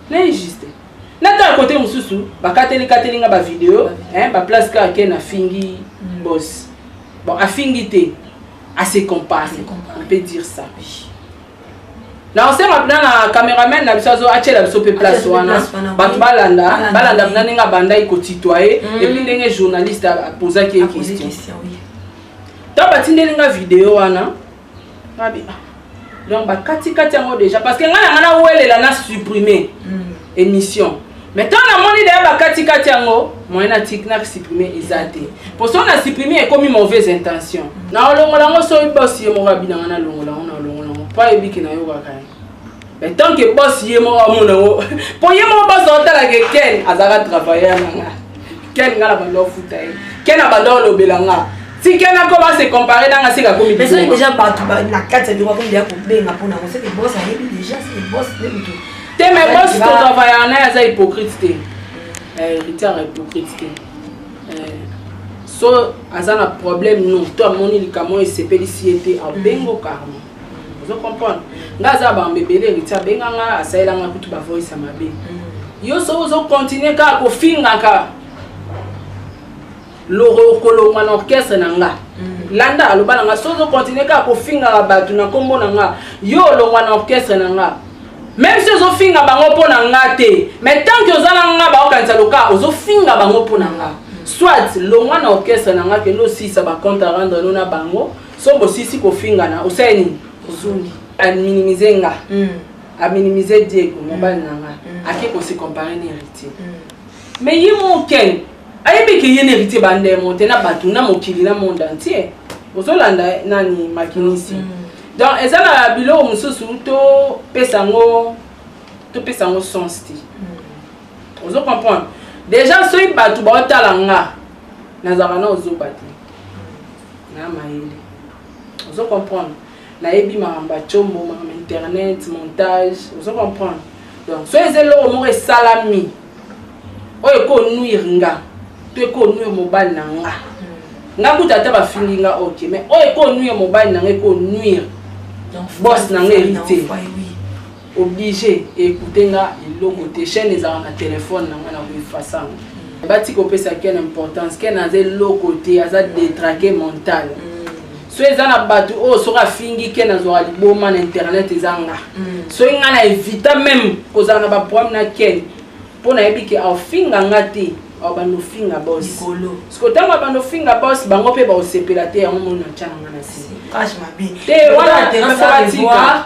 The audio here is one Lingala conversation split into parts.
na injuste natala kote mosusu bakateli kateli nga bavideo baplace kaka ke nafingi mm. bos bon afingi te ase compare on peut dire ça na osenga mpena na cameraman na biso azo atyela biso mpe place wana bato balanda balanda mpena ndenge abandaki kotitoye mm. epuis ndenge journaliste apozaki ye question ntango batindeli nga video wana Abi, ah. donc bakatikati yango déjà parce que ngai na ngai nawelela na supprime mm. émission mais ntango namoni deya bakatikati yango moyen natiki na supprime eza te mpo soki na supprime ekomi mauvaise intention mm. naolongola yango soki bosi ye moko abinanga nalongola yango naolongola yango mpo ayebiki nayokaka ye mais tant que boss ye moko amona yango mpo ye moko boss aotala ke ken azalaka travailleur na nga ken nga na bando afuta ye ken na bando alobela nga ti ken akoba se compare na nga seka komi soki deja bato na kati ya biro akomi deya kobenga mpo nango seke boss ayebi deja seke boss nde moto te mais boss totravailleur na ye aza hypocrite te héritier eh, hypocrite te eh, so aza na problème non to amoni likambo oyo esepelisi ye te abengo carmo ozo comprendre nga aza ba mbebele héritier abenga nga asalela nga kutu ba voice ya mabe mm. yo soki ozo continuer kaka kofingaka loro kolongwa na orchestre na nga mm. landa aloba na nga soki ozo continuer kaka kofingaka bato na nkombo na nga yo olongwa na orchestre na nga même si ozofinga bango mpo na nga te mais tant que oza na nga baokanisa loka ozofinga bango mpo na nga mm. soit longwa na orchestre na nga kende osisa bacompte arendre no na bango Sombo osisi kofingana osali nini? Ozongi. Aminimize nga. Mm. Aminimize Diego mobali na nga. Mm. Ake ko se comparer na héritier. Mm. Mais ye mon ken ayebi ke ye na héritier ba ndemo te na bato na mokili na monde entier. Ozolanda nani makinisi. Mm. Donc eza na biloko mosusu to pesa yango to pesa yango sens te. Mm. Ozo comprendre? Déjà soki bato baotala nga nazalaka na ozoba te. na mayele ozo comprendre nayebi makambo ya combo makambo internet montage ozo comprendre donc soki eza eloko moko esalami oyo ekonuire nga to ekonuire mobali na nga hmm. nga kuta ata bafingi nga ok mais oyo ekonuire mobali na nga ekonuire bos na nga héritier oblige écouter nga eloko te chaîne ezalaka na téléphone na nga na koefasa yango bati kopesa ken importance ken aza eloko te aza détraqué mental mm. so eza na bato oyo oh, soki afingi ken azwaka liboma na internet eza nga mm. soki ngai na evita meme kozala na baproblème na ken mpo nayebi ke aofinga nga te abanda ofinga bos siko ntango abanda ofinga bos bango mpe baosepela te yango moni na ntya na nga na site te wana nasala tika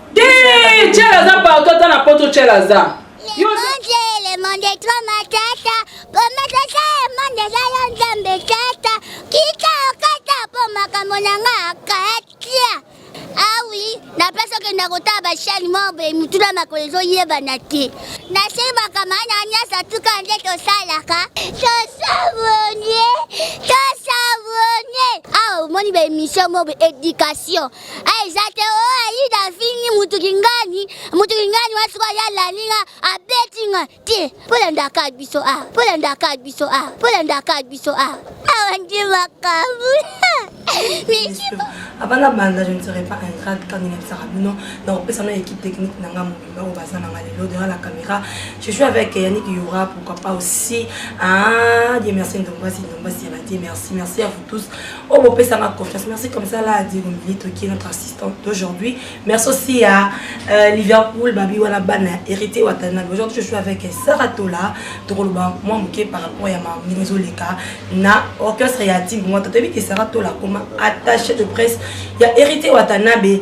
Te, Tchel aza partout ata na poto Tchel aza. Yo le monde est trop matata poma tata e monde eza yo nzambe tata kita okata mpo makambo na nga akatia awi ah na place okenda kotala bashani mobe mituna makolo ezoyebana te nasimbaka maana nyonso tuka nde tosalaka tosabonie tosabonie awa ah, omoni baemission mobe education eza te o oh, ayida afingi mutu kingani mutu kingani wa sikoyo ye alandi nga abeti nga te polandaka biso a ah, polandaka biso a ah, polandaka biso a ah. awa nde makambo abana banda je ne serai pas ingrate quand ninga bisaka bino nakopesa na équipe technique nanga bango baza nanga lelo derrière la caméra je joue avec yannick yora pourquoi pas aussi ah dieu merci ndombasi ndombasi ya badie merci merci à vous tous oyo oh, bopesanga confiance merci comme ça là diego milito qui est notre assistante d'aujourd'hui merci aussi à euh, liverpool babi wana bana hérité watanabe aujourd'hui je joue avec sarah tola tokoloba mwa moke par rapport ya mamino ezoleka na orchestre ya timbo mwa totoyebi ke sarah tola akoma attaché de presse ya hérité watanabe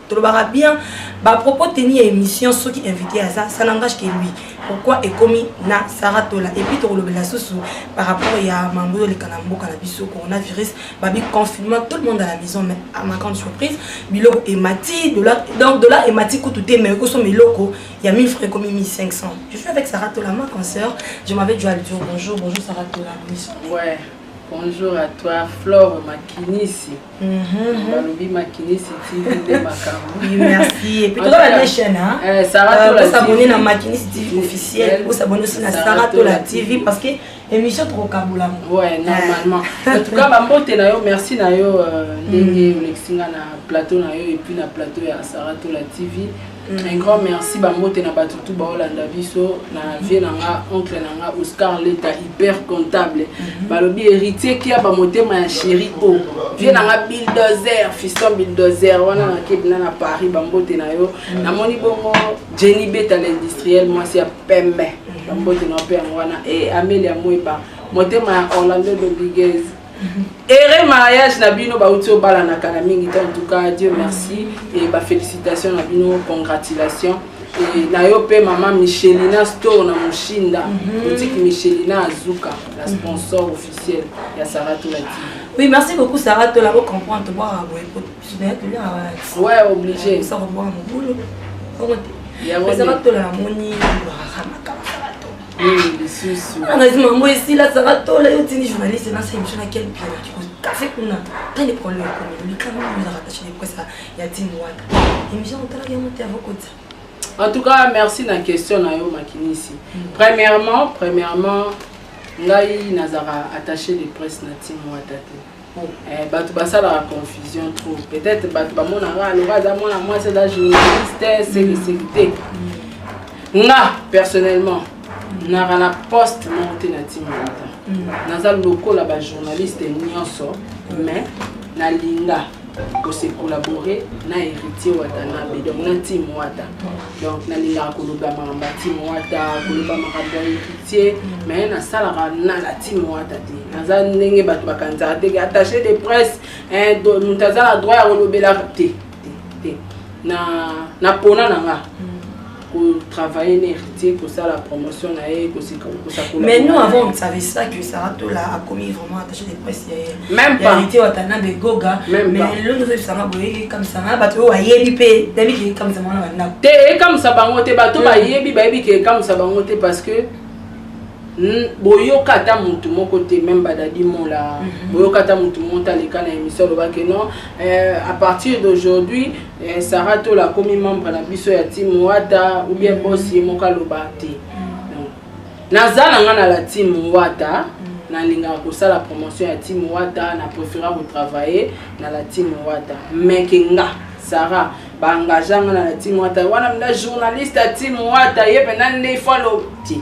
tolobaka bien ba propos tenu ya émission soki invité aza ça n'engage que lui pourquoi ekomi na sara tola epuis tokolobela susu par rapport ya mambo ezoleka na mboka na biso coronavirus babi confinement tout le monde à la maison mais à ma grande surprise biloko emati dollar donc dollar emati kutu te mais ekosoma eloko ya 1000 francs ekomi 1500 je suis avec sara tola ma concert je m'avais dû aller dire bonjour bonjour sara tola ouais. bonjour à toi flore makinisi Mhm. balobi makinisi tv nde makambobosabone na makinisi tv officiel bosabone osi na sara tola tv parce que émission tokokabola ouais normalement en tout cas bambote na yo merci na yo euh, ndenge mhm. olekisi nga na plateau na yo epuis na plateau ya sara tola tv Un grand merci ba mbote na batu tout baolanda biso na vie na nga oncle na nga Oscar Leta hyper comptable mhm. balobi héritier kia ba motema ya chéri o vie na nga bulldozer fiston bulldozer wana na kebina na Paris ba mbote na yo mhm. namoni bongo Jenny Beta l'industriel mwasi ya pembe mhm. ba mbote na yo mpe yango wana e eh, Amelia Mweba motema ya Orlando Rodriguez Ere mariage na bino bauti obalana kala mingi te en tout cas Dieu merci et ba félicitations na bino congratulations et na yo pe maman Michelina store na Mushinda mhm. boutique Michelina Azuka la mhm. sponsor officiel ya Sarah Tola TV. Oui, merci beaucoup Sarah Tola ko comprendre to boire boye ko tunaye to ya wa. Ouais, obligé. Ça ko boire mon boulot. Yango Sarah Tola moni ba ramaka. angazi mango esila azaka tola yo tini journaliste nasa émission na kel pia kafe kuna ta nde problème ekomi likama ezaka tache de presse ya tini wana émission otalaki yango te avokota en tout cas merci na question na yo makinisi mm. premièrement premièrement ngai nazaka attaché de presse na tini wata te Bon, eh, bato basalaka confusion trop peut-être bato bamonaka aloka aza mwana mwasi aza journaliste sekiseki te nga personnellement naka na poste moko te na ntima ata mm. naza lokola bajournaliste nyonso mais nalinga kosekolabore na héritier watanabe donc na ntime wata donc nalingaka koloba makambo ya timo wata koloba makambo ya héritier mais nasalaka na na timo wata te naza ndenge bato bakanisaka te attaché de presse moto aza na droit ya kolobelaka te te na pona na nga kotravaille na héritier kosala promotion na ye kosakola mais nous avant on ne savait ça que saratola akomi vraiment yalite watanabe goga lelo tozoyebisanga boye ekamisanga bato oyo bayebi mpe nayebi ke ekamisanga wana bandako te ekamisa bango te bato hmm. bayebi bayebi ke ekamisa bango te parce que boyoka ata motu moko te meme badadi mola mhm. boyoka ata motu moko te aleka na émission alobaki non euh, à partir d'aujourd'hui euh, sarah tola akomi membre na biso ya team wata ou bien mhm. boss ye moko aloba te Naza na nga na la team Wata. nalingaka kosala promotion ya tim wata na préféra kotravaille na la tim wata mais ke nga sara baengagea nga na la tim wata wana mda journaliste ya tim wata ye mpenza nde ifo alobi te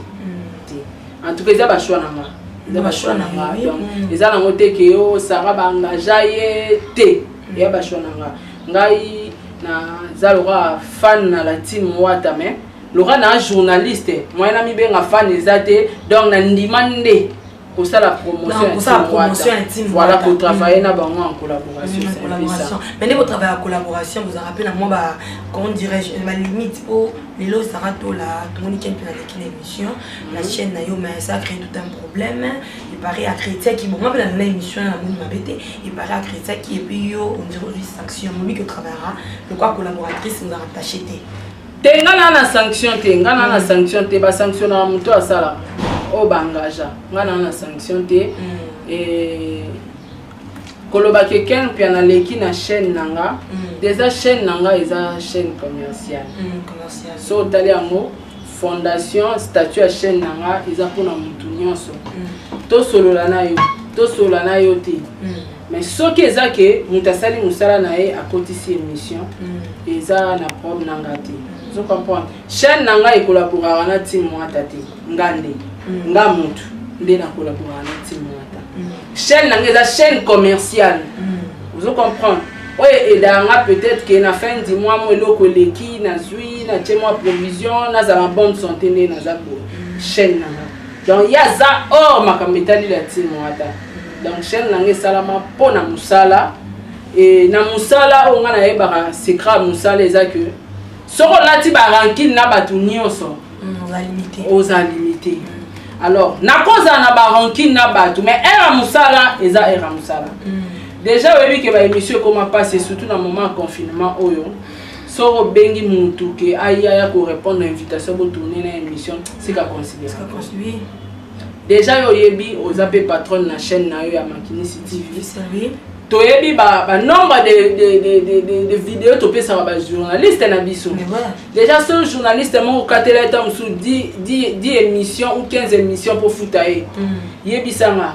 te en tout cas eza bashoi na nga eza bashoi na nga donc eza nango te ke yo sara baengagea ye te eya bashoi na nga ngai naza lokola fan na la tim wata mais loka na journaliste moyen na mibenga fan eza te donc na ndima nde kosala promotion intime voilà kotravaille na bango en collaboration mais nde kotravaille ya collaboration bozalaka mpe na mwa ba comment dirais-je balimite mpo lelo ozalaka tola tomoni ken mpe naleki na émission na mhm. chaîne na yo mais ça crée tout un problème epare akretiaki bonga mpe nalona émission na moni mabe te epare akretiaki epuis yo ondire ozwi sanction momi kotravaillera lokwa collaboratrice ozalaka tache te te nga na na sanction te nga na na sanction te ba sanction na moto asala oyo oh, ba engagea nga na na sanction te mm. eh, koloba ke ken mpe naleki na chaîne na nga mm. deja chaîne na nga eza chaîne commerciale mm, so otali yango fondation statut ya chaîne na nga eza mpona motu nyonso tosolola na yo tosolola na yo te mais soki eza ke moto asali mosala na ye akotisi émission mm. eza na problème na nga te mm. ozo comprendre chaîne na ngai ekolaboraka na tim mwata te nga nde mm. nga motu nde nakolaboraka na tim mwata chaîne na ngai eza chaîne commerciale ozo comprendre oyo edaka nga peut-être ke na fin du mois mo eloko eleki nazwi natye mwa provision nazala bonne santé nde naza boye chaîne na nga donc ye aza or makambo etali la team wata donc chaîne na ngai esalama mpo na mosala e na mosala oyo ngai nayebaka secret ya mosala eza ke soki olati barankine na bato nyonso mm, oza limite mm. alors nakozala na barankine na bato mais ere ya mosala eza ere ya mosala mm. déjà oyebi ke baémission ekoma mpasi surtout na moment ya confinement oyo soki obengi mutu ke aya ya ko répondre na invitation bo tourner na émission sika considérer Sika considérer. déjà yo oyebi oza pe patronne na chaîne na yo ya makinisi tv Sérieux? toyebi ba, ba nombre de, de, de, de, de, de video topesaka ba journaliste na biso Mais voilà. déjà so journaliste moko okatela ye ntango mosusu 10 émission ou 15 émission mpo futa ye Mm. yebisanga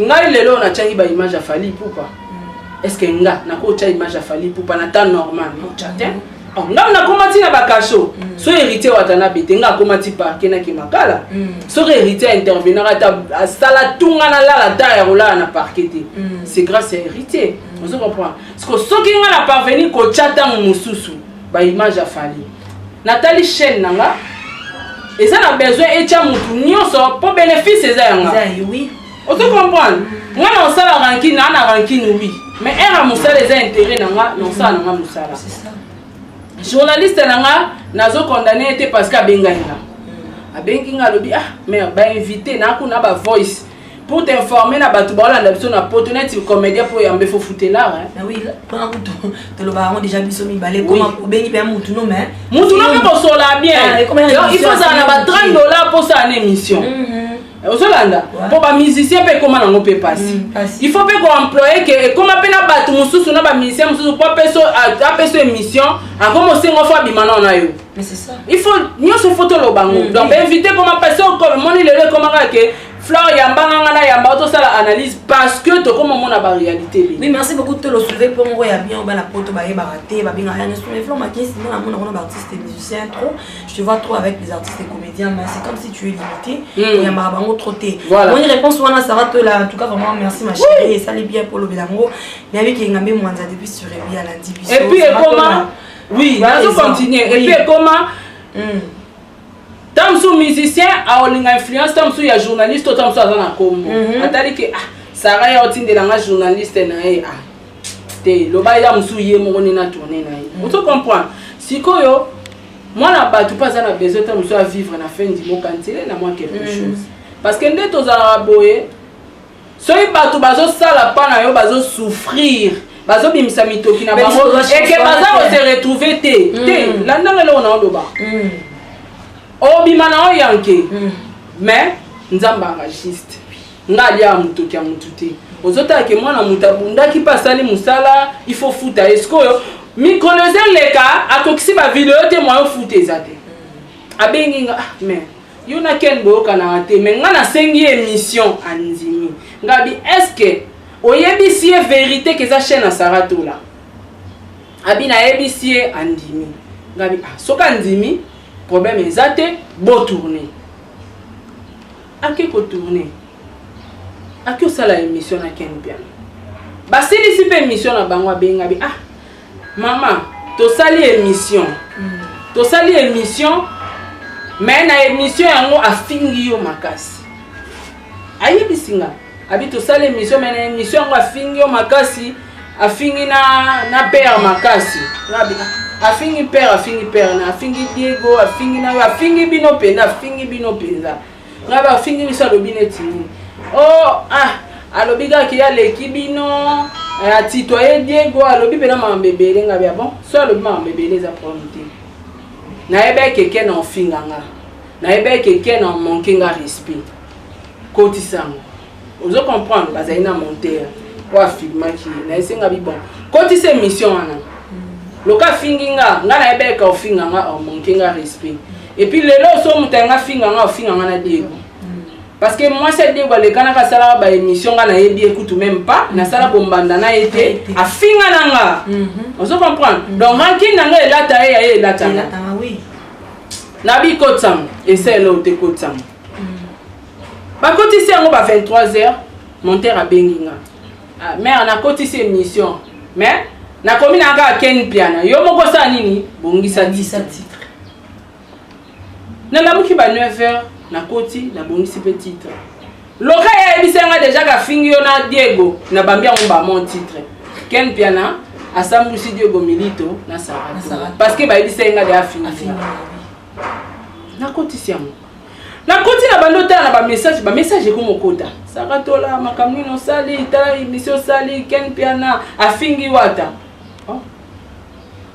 ngai lelo oyo natiaki ba image ya fali pupa mm. est ce que nga nakotya image ya fali pupa na temps normal otya te mm. oh, ngai nakoma ti na bakasho mm. soki héritier watanabe te ngai akoma ti parke nake makala soki héritier aintervenaka ata asala tunga nalala ta ya kolala na parke te c'est grâce ya héritier ozo comprendre soki ngai na parvenir kotya ntango mosusu ba image ya fali natali chaîne na nga eza na besoin etya motu nyonso mpo bénéfice eza ya nga ozo comprendre nga na osala rankine naa na rankine wi mais heure ya mosala eza intérêt na nga na osala na nga mosala journaliste na nga nazo condamne ye te parce que abengai nga abengi nga alobi ah mère bainvité naa kuna ba voice pour t'informer na bato baolanda biso na poto neti comédien mpo yambe fo futelar mpona kutu tolobaka yango déjà biso mibale obengi mpe ya mutu no mais mutu no mpe kosola bien ah, il faut ozala na ba 30 dollar mpo osala na émission mm-hmm. ozolanda mpo bamusicien mpe ekóma nango mpe mpasi mm, il faut mpe koemploye ke ekóma mpe na bato mosusu na bamusicien mosusu mpo apeso émission akoma osengo fo abima nao na yo il faut nyonso fo toloba yango mm, donc bainvite ekóma mpasi omoni lelo ekómaka ke Flore yamba nga nga na yamba tosala analyse parce que tokoma mona ba réalité lelo. Oui merci beaucoup tolo soulever mpo moko ya bien obana poto bayebaka te babengaka yango sur les flancs makesi nga namona kuna ba artistes musiciens trop je te vois trop avec les artistes et comédiens mais c'est comme si tu es limité mm. oyambaka bango trop te voilà. moni réponse wana sara tola en tout cas vraiment merci ma chérie oui. esali bien mpo olobela yango nayebi ke ngambe mwanza depuis sur ebi alandi biso et puis ekoma oui nazo continuer et puis ekoma mm. Tango mosusu musicien akolinga influence tango mosusu ya journaliste to tango mosusu aza na kombo mhm. atali ke ah sara ya otindela nga journaliste na ye ah te loba ya mosusu ye moko nde na tourne na ye mhm. ozo comprendre sikoyo mwana bato mpe aza na besoin tango mosusu avivre na fin du mot kantile na mwa quelque mhm. chose parce que nde tozalaka boye soki bato bazosala mpa na yo bazosouffrir bazobimisa mitoki na bango eke baza kose retrouve te mm. te landanga eloko na oloba mm. obima na oyo yanke mm. mais nzambe aragiste nga alia motoki ya motu te ozotala ke mwana moto abundaki mpe asali mosala ifo futa ye sikoyo mikolo eza leka akokisi bavideo te mwa yo futa eza te abengi nga ah, mais yo na ken boyokanaka te mais nga nasengi ye émission andimi ngabi est ce que oyebisi ye verité ke eza chaîne ya sara tola abi nayebisi ye andimi ngabi ah, soki andimi problème eza te botourne ake kotourne ake osala émission na ken piano basilisi mpe émission na bango abengabi ah Maman, tosali émission. Mm. Tosali émission mais na émission yango afingi yo makasi. Ayebisi nga abi tosali émission mais na émission yango afingi yo makasi, afingi na na père makasi. Ngabi ah, afingi père, afingi père, na afingi Diego, afingi na afingi bino mpenza, afingi bino mpenza. ngai bafingi biso alobi neti nini o oh, ah alobi kaka ye aleki bino eh, atitoye diego alobi mpena makambo ebele ngai bia bon so alobi makambo ebele eza problème te nayebaki keke na ofinga nga nayebaki keke na manke nga respect kotisango ozo comprendre bazali na monteur oyo afilmaki ye na esenga bi bon kotisa émission wana loka afingi nga nga nayebeka ofinga nga omonke nga respect epuis lelo oso moto yanga afinga nga ofinga nga na diego parce que mwasi ya diego alekanaka asalaka baémission nga nayebi ye kutu meme pas nasala bombanda na ye te afinga na nga mhm. ozo comprendre mhm. donc rankine na nga elata ye ya ye elatanga nabi kotsam esa eleo te kotsam bakotisi yango ba 23 heures monteur abengi nga ah, mare nakotisi émission mais nakomi na kaka ken piana yo moko osala nini bongisa titre nalamuki ba 9 heures nakoti nabongisi mpe titre loka ye ayebisa nga deja kafingi yo na diego nabambi yango bamon titre ken piana asambwisi diego milito na sarah parce que bayebisa ye nga de afingi nakotisi yango Na koti na bando tala na ba message, ba message eko mokota. Saka tola makambo nini osali, tala emission osali, Ken Piana afingi wata. Oh.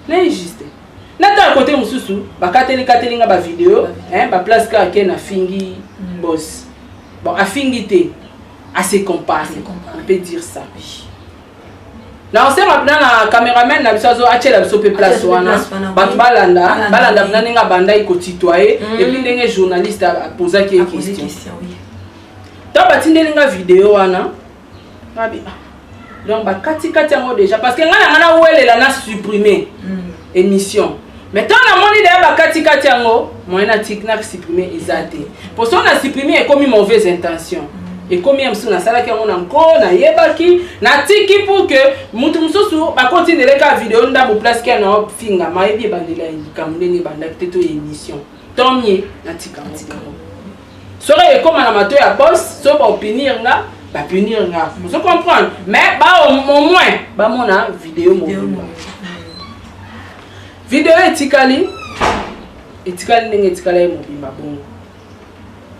Na juste. Na tala kote mosusu bakateli kateli nga ba video, hein, ba place ka Ken afingi mm. boss. Bon, afingi te. À se comparer. On peut dire ça. Oui. nakosenga mpena na cameraman na biso azo atyela biso mpe place wana bato balanda balanda mpena ndenge abandaki kotitoye mm. epuis ndenge journaliste apozaki ye question ntango batindeli nga video wana ah, donc bakatikati yango déjà parce que ngai na ngai nawelela na supprime mm. emission mais ntango namoni deya bakatikati yango moyen na tik na supprime eza te mpo soki na supprime ekomi mauvaise intention ekomi ya mosusu nasalaki yango na nko nayebaki natiki pour que motu mosusu bakotindela kaka video ndambo place kia na ofinga mayebi ebandela ya likambo ndenge ebandaki te to ya émission tant mieux natika yango soki ekoma na mato ya bos soki baopinir nga bapunir nga ozo comprendre mais ba au moins bamona video mobimba video etikali etikali ndenge etikala ye mobimba bongo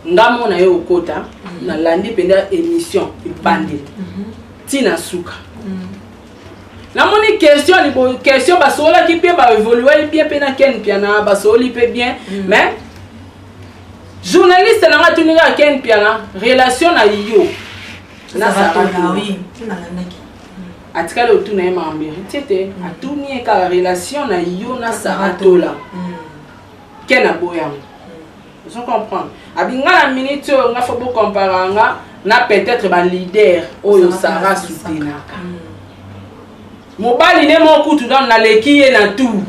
nga mona ye okota mhm. nalandi mpenza émission ebandeli mhm. ntina suka mhm. namoni question libo question basololaki mpe baevoluaki bien mpe na ken mpiana basololi mpe bien mais journaliste nanga atuni kaka ken mpiana relation na yo na sarah oui nalandaki atikali otuna ye makambo héritier te mm. atuni ye kaka relation na yo na saratola mm. ken aboyango mm. ozo comprendre abi nga na minute oyo nga fo bocompara nga na peut-être baleader oyo sara soutenaka mobali ne moko kutu nano naleki ye na tout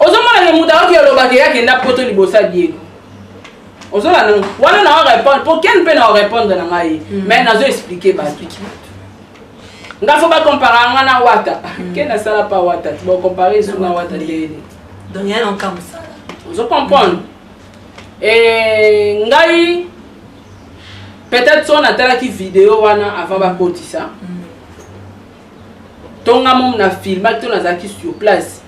ozomona ke moto ayoki aloba ke akenda poto liboso ya diego ozolanda ngo wana na orépondre po ken mpe na orépondre na ngai hmm. mais nazo explike bato nga fo bacompara nga na wata hmm. ken asala pa wata ti bacompare esu na wata ndeyene ozo comprendre eh, ngai peut-être so natalaki video wana avant bakotisa mm. tonga mom na filmaki to nazalaki sur place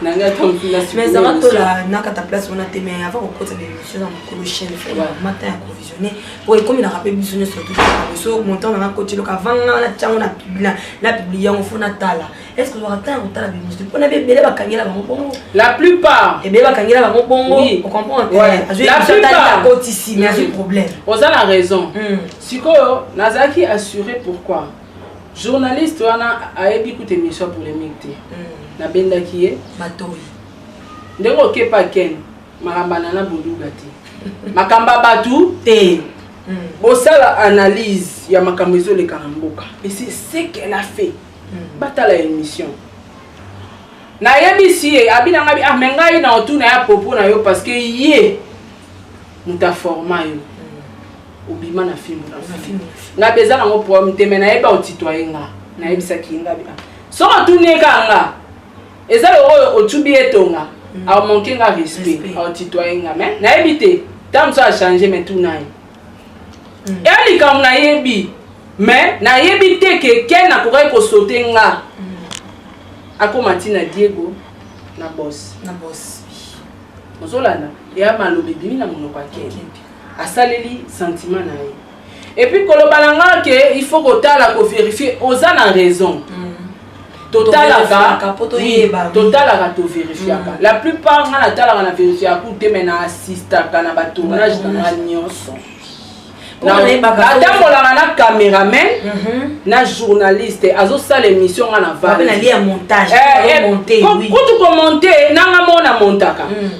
mezanga tola nakata place wana te mai avant kokota baémission na mokolo chaine mata ya provisionne po ekomelaka mpe biso nyonso toso montant nanga koti eloka avant nga wana tiango na publia na publie yango fo natala est ce que ozwaka ntango kotala baémission mpona be ebele bakangela bango bongo la plupart ebele bakangela bango bongo ocomprendeakotisi mais azwi problème oza na raison sikoyo nazalaki assuré pourquoi Journaliste wana ayebi kutu emission polemique te. Mm. Nabendaki ye. Matoyi. Ndenge okepa Ken makambana na boluga te. Makamba batu te. Mm. Bosala analyse ya makambo ezoleka na mboka. Et c'est ce qu'elle a fait. Mm. Batala émission. nayebisi ye abina ngabi ah me ngai na otuna ya popo na yo parce que ye moto aforma yo obima na fimbu na fimbu nga mpe eza nango problème te me nayebi aotitoye nga nayebisaki ye nga bia soki atuni ye kaka nga eza loko oyo otubi ye tonga mm. aomanke nga respect aotitoye nga me nayebi te ntango mosusu achange me tuna ye mm. eya likambo nayebi me nayebi te ke ken akokaki kosote nga mm. akóma ntina diego na bos ozolanda eya maloba ebimi na monoko ya ken asaleli sentiment na ye et puis koloba na nga ke il faut kotala ko vérifier oza na raison mm. totalaka totalaka toverifiaka mm. la plupart nga natalaka na verifiaka te me na assistaka na batournage na nga nyonso atambolaka na cameraman mhm. na journaliste azosala émission nga na valkutu komonte nanga mona montaka mm.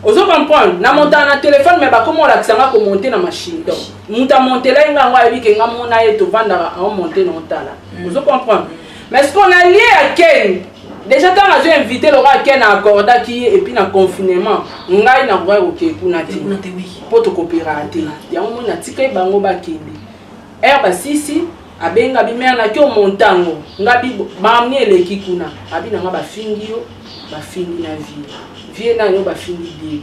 Ozo comprendre? Na montana na telephone mais bakoma olakisa nga ko monter na machine. Donc, mutu a montela ye nga yango ayebi ke nga mona ye tovandaka en monter na otala. Mm. Ozo comprendre? Mais ce qu'on a lié à Ken, déjà ntango azwi invité lokola ken accordaki ye epuis na confinement ngai nakokai kokei kuna te mpo tokopera te yango moi natikaki bango bakende heure basisi abenga bi mère na kio montango nga bi bamni eleki kuna abi na nga bafingi yo bafingi na vie vie na yo bafingi bie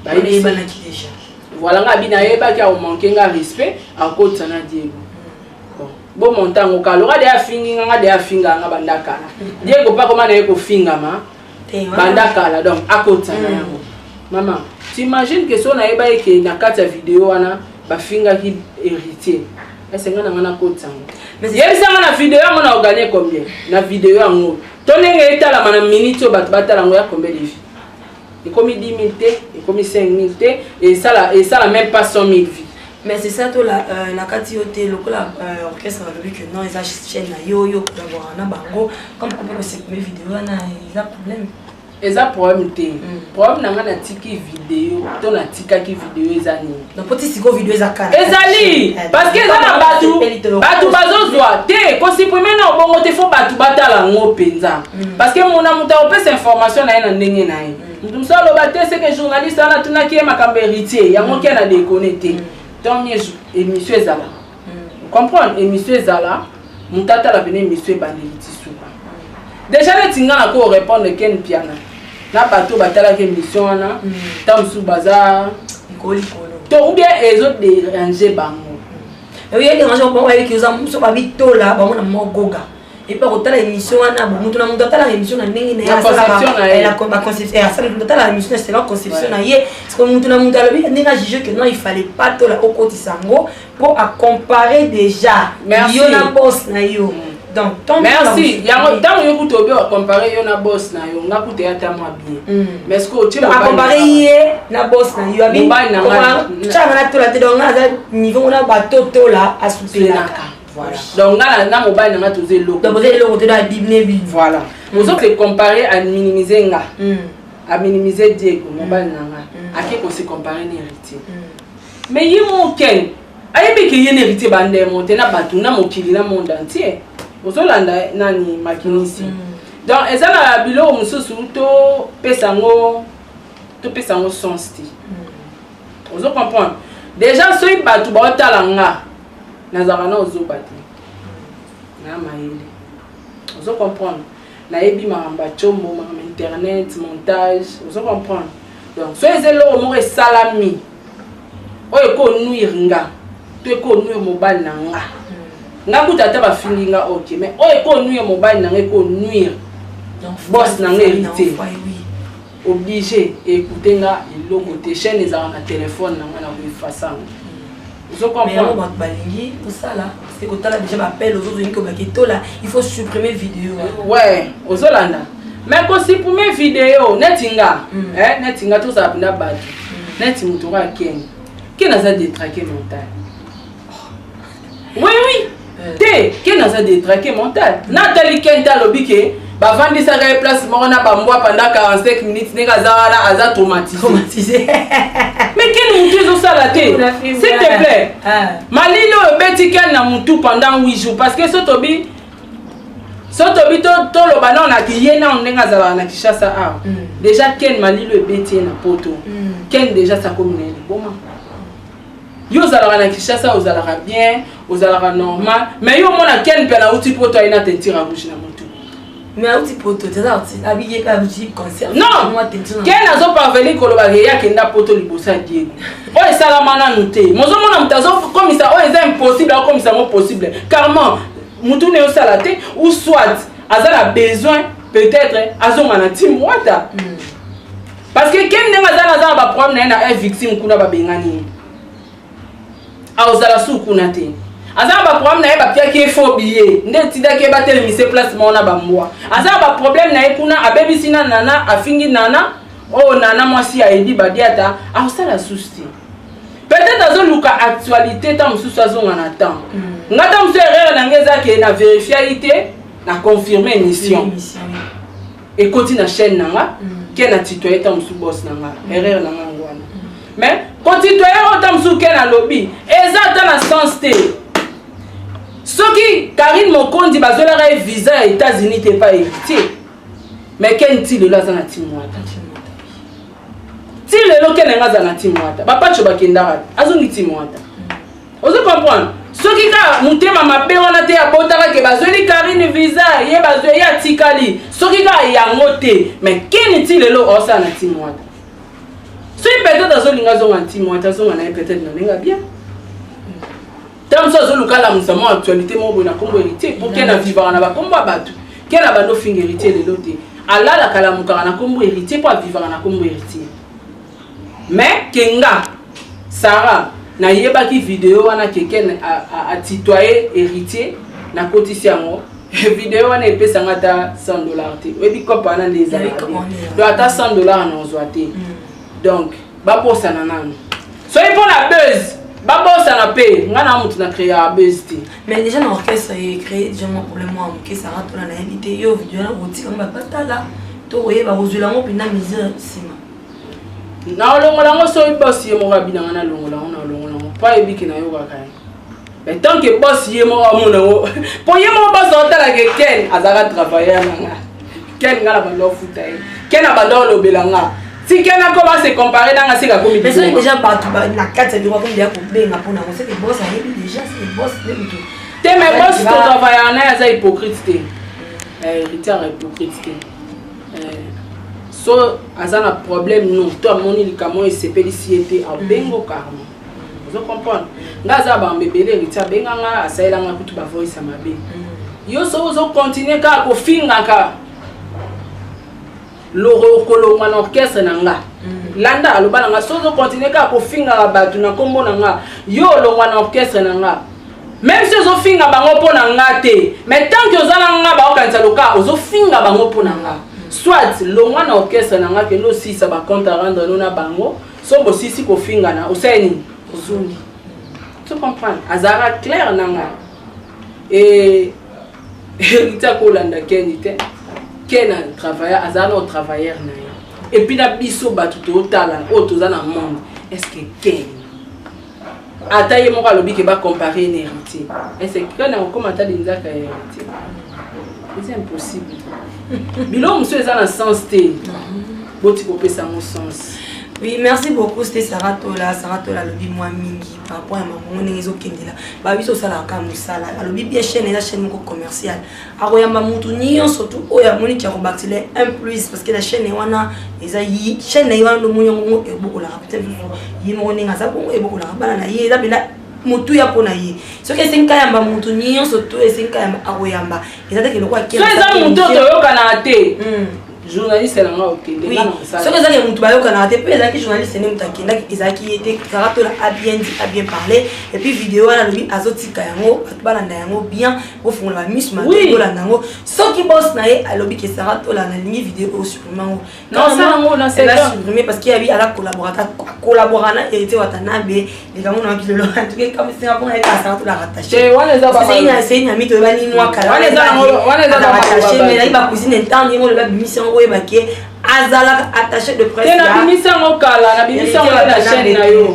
bayebanaki déjà voilà nga abi nayebaki akomanke nga respect akotisa na diego bomontango kalora de afingi nga nga de afinga nga bandakala diego mpe akoma na ye kofingama banda kala donc akotisa na yango mm. mama t'imagine ke so nayeba eke na kati ya video wana bafingaki héritier esenga na nga nakotisa yango yebisanga na video yango na oganie combien na video yango to ndenge etalama na minute oyo bato batala yango ya combien de vie ekomi 10 000 te ekomi 5 000 te esala esala même pas 100 000 vie mais c'est ça tola euh, nakati yo te lokola euh, orchestre balobi que non eza chaîne na yo yo kolabora na bango comme kope kosekobe video wana eza problème eza problème te mm. problème na ngai natiki video to natikaki video eza nini napoti siko video eza kala ezali eh, parce que eza na bato bato bazozwa te kosiprime na obongo te fo bato batala yango mpenza mm. parce que mona moto akopesa information na ye na ndenge na ye mm. Ndusu aloba te ce que journaliste wana atunaki ye makambo héritier yango ken adekone te tant mieux émission ezala comprendre émission ezala moto atala pene émission ebandeli ti suka déjà neti nga na ko répondre ken piana na bato batalaki émission wana ntango mosusu baza to ou bien ezo dérange bango oye dérange bango ayeki oza mosusu babitola bango na mwa goga epe akotala émission wana bo moto na moto atalaka émission na ndenge nayeatalaka émission na selon conception na ye parceke moto na moto alobi ndenge ajuge que non il fallait pas tola okotisa yango mpo acompare déjà yo na bos na yo merci yango ntango yo kutu obi ocompare yo na bos na yo nga kutu eyata mwa bien mm. mais siko otieacompare ye na bos na yo abicanga natola te donc nga aza niveau ngo na batotola asupelaka Voilà. Donc nga na mobali na nga toza eloko. Donc oza eloko te na bible bi. Voilà. Mm. Ozo se comparer à minimiser nga. Mm. À minimiser Diego mm. mobali na nga. Mm. Ake ko se comparer na héritier. Mm. Mais ye mon ken. Ayebi ke ye na héritier ba ndemo te na batu na mokili na monde entier. Ozo landa nani makinisi. Mm. Donc eza na biloko mosusu to pesa ngo to pesa ngo sens te. Mm. Ozo comprendre. Déjà soki batu ba otala nga. nazalaka nao zoba te na mayele ozo comprendre nayebi makambo ya combo makambo internet montage ozo comprendre donc soki eza eloko moko esalami oyo ekonuire nga to ekonuire mobali na nga nga kuta ata bafingi nga ok mais oyo ekonuire mobali na nga ekonuire bos na nga héritier oblige ekoute nga eloko te chaine ezalaka na telefone na nga na koefasa yango mais yango bato balingi kosala se kotala deja bapele ozozoyingi kobaki tola il faut supprimer video ouais ozolanda mais kosupprime video neti nga mm. eh, neti nga tozala mpena bato mm. neti moto oyo akende kende aza detrake mental oui oui eh. te ken aza detraqué mental natali ken te alobi ke bavandisaka ye place moko na bambwa pendant 45 minutes ndenge aza wana aza traumatise mais ken motu ezosala te s'il te plaît ah. malili oyo obeti ken na motu pendant 8 jours parce que so tobi so tobi toloba nao na kiye nao ndenge azalaka na kinshasa awa mm. déjà ken malilo ebeti ye na poto mm. ken déjà sakomi na ye liboma Yo ozalaka na Kinshasa ozalaka bien, ozalaka normal, mais yo mona Ken pe na uti poto ayina teinture ya rouge na mutu. Mais auti poto teza auti abiye ka uti concert. Non. Moi teinture. Ken azo parvenir koloba ke ya kenda poto liboso ya Diego. Oyo esalama nanu te. Mozo mona mutu azo komisa oyo eza impossible akomisa ngo possible. Carrément mutu ne osala te ou soit aza na besoin peut-être azonga na team wata. Mm. parce que ken ndenge aza naza na baproblème na ye na un victime kuna babengani ye aozala su kuna te aza na baproblème na ye bapiaki ye fo biye nde etidaki ye batelemise place moko na bambwa aza na baproblème na ye kuna abebisi na nana afingi nana oyo oh, nana mwasi ya edi badiata akosala susu te peut-être azoluka actualité ntango mosusu azonga na temps hmm. nga ntango mosusu erreur na ngai eza ke na verifiaki te na confirme émission ekoti na chaîne na nga ke na tutoye ntango mosusu bos na nga erreur na nga yango wana mais kotitoye oyo ntango mosusu ke nalobi eza ata na sens te soki karine mokondi bazwelaka ye visa ya états-unis te epai héritier mais ken ti lelo aza na timwata ti lelo ken yanga aza na timwata bapacho bakendaka azongi timwata ozo comprendre soki kaka motema mabe wana te abotaka ke bazweli karine visa ye bazwe ye atikali soki kaka yango te mais keni ti lelo osala na ti mwata soki peut-être azolinga azonga na ti mwata azonga na ye peut-être na ndenge bien ntango mosusu azoluka alamusa mwa actualité moko boye na nkombo héritier mpo keni avivaka na bakombo ya bato keni abandi ofinga héritier lelo te alalaka alamukaka na nkombo héritier mpo avivaka na nkombo héritier Mais que nga Sarah nayebaki video wana que Ken atitoye héritier nakotisi yango video wana epesa nga ata 100 dollars te oyebi kopa wana nde ezalaka donc ata 100 dollars naozwa te mm. donc babosana nanu soki mpo na buzz babosana mpe ngai na motu na créa buzz te mais déjà na orchestre ye créé déjà mwa problème mwa moke sanga tola nayebi te yo video wana kotika ngo babatala to koyeba kozwela yango mpenza misère nsima na olongola yango soki bosi ye moko abinanga na longola yango na olongola yango mpo ayebiki nayokaka ye mais tant que bosi ye moko amona yango mpo ye moko bosi aotalaka ken azalaka travailleur na nga ken nga na bando ofuta ye ken abanda olobela nga si ken akoma se compare na nga sika komi mais soki deja bato na kati ya biro akomi deya kobenga mpo nango seke bosi ayebi deja seke bosi nde moto te mais bosi totravaillaka naye aza hypocrite te eh, héritier ya hypocrite te so aza na problème non to amoni likambo oyo esepelisi ye te abengo karma ozo comprendre nga aza ya bambe ebele héritier abenga nga asalela nga kutu bavoice ya mabe yo so ozo continue kaka kofingaka loro okolongwa na orchestre na nga landa aloba na nga so ozo continue kaka kofingaka bato na nkombo na nga yo olongwa na orchestre na nga Meme si ozo finga bango po na nga te, mais tant que oza na nga ba okanisa loka ozo finga bango po na nga. Soit longwa na orchestre na nga ke lo sisa ba compte à rendre no na bango, so bo sisi ko finga na oseni ozungi. Tu comprends? Azara clair na nga. Et Rita kolanda Kenny te. Ken a travaillé, azala au travailleur na ye. Et puis na biso bato totala oyo toza na monde. Est-ce que Ken ata ye moko alobi ke ba comparer na héritier est-ce que quand on commence à linzaka ya héritier c'est impossible biloko mosusu eza na sens te boti kopesa yango sens Oui, merci beaucoup, c'était Sarah Tola. Sarah Tola, lobi moi mingi par rapport à ma monnaie, ils ont qu'un là. Bah oui, ça la camusala. Lobi bien chaîne, la chaîne commerciale. akoyamba mutu nyonso tu oyo amoni ki akobakisela un plus parce que na chaîne ye wana eza ye chaîne na ye wana ndomoni yango ngo ebokolaka mpe lisusu ye moko ndenge aza bongo ebokolaka bana na ye eza mpena motuya mpo na ye soki esengi kayamba motu nyonso to esengi kayamba akoyamba eza teke lokola so eza motu oyo toyokanaka te hmm. journaliste na nga okende soki ezaki ya motu bayokanaka te mpe ezalaki journaliste nde motu akendaki ezalaki ye te kaka tola abien dit abien parle epuis video wana alobi azotika yango bato balanda yango bien ofungola misu makola nango soki bos na ye alobi ke sara tola nalingi video oyo supprime yango supprime parce que yabi ala collaborata collabora na héritier watanabe likambo na bilolo antuke kamisinga mpona ye kaka sara tola rattacheseyi na mito ebani mwa kalarattache mais nayi bacousine ntango ye moloba bimisi yango oyeba ke azalaka attache de presse na bimisi yango kala na bimisi yango na chaîne na yo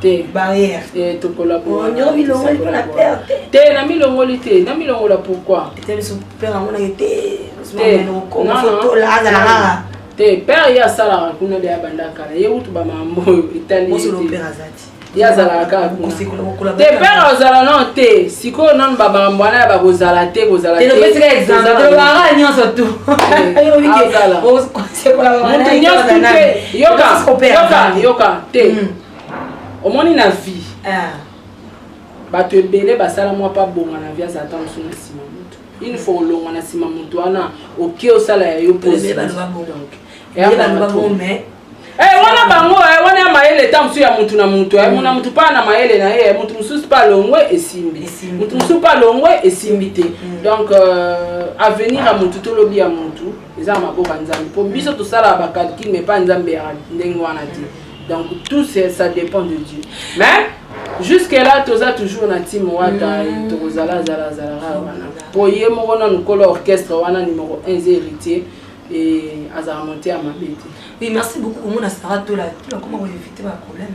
te barrière eh, tokolabongo milongoli mpo na pere te te na milongoli te na milongola pourquoi te biso pere yango naye te azalaka te pere ye asalaka kuna de abandaka na ye kutu bamambo oyo etali ye azalaka kaka kuna te pere azala nao te sikoyo nanu bamambo wana ya bakozala te kozala te nyonso tu moto nyonso te yoka yoka te hmm. omoni na vie ah. bato ebele basala mwa mpe abonga na vie aza ata mosu na nsima moto une fois olonga na nsima moto wana oke osala ya yo eh, wana bango eh, wana ya mayele ta mosusu ya motu na motu eh, mona motu mpaa na mayele na ye motu mosusu mpe alongwe esimbi motu mosusu mpe alongwe esimbi te mm. donc euh, avenir ya motu tolobi ya motu eza na maboko ya nzambe mpo biso tosalaka bacalcule mais mpa nzambe ya ndenge wana te donc tout ça dépend de dieu mais jusque là toza toujours na tim wata mm. tokozala zala zalaka wana mpo ye moko nanu kolo orchestre wana numero 1 eza héritier e azala monte ya mabe te Oui, merci beaucoup. Comment Sarah Tola, Tola comment vous évitez un problème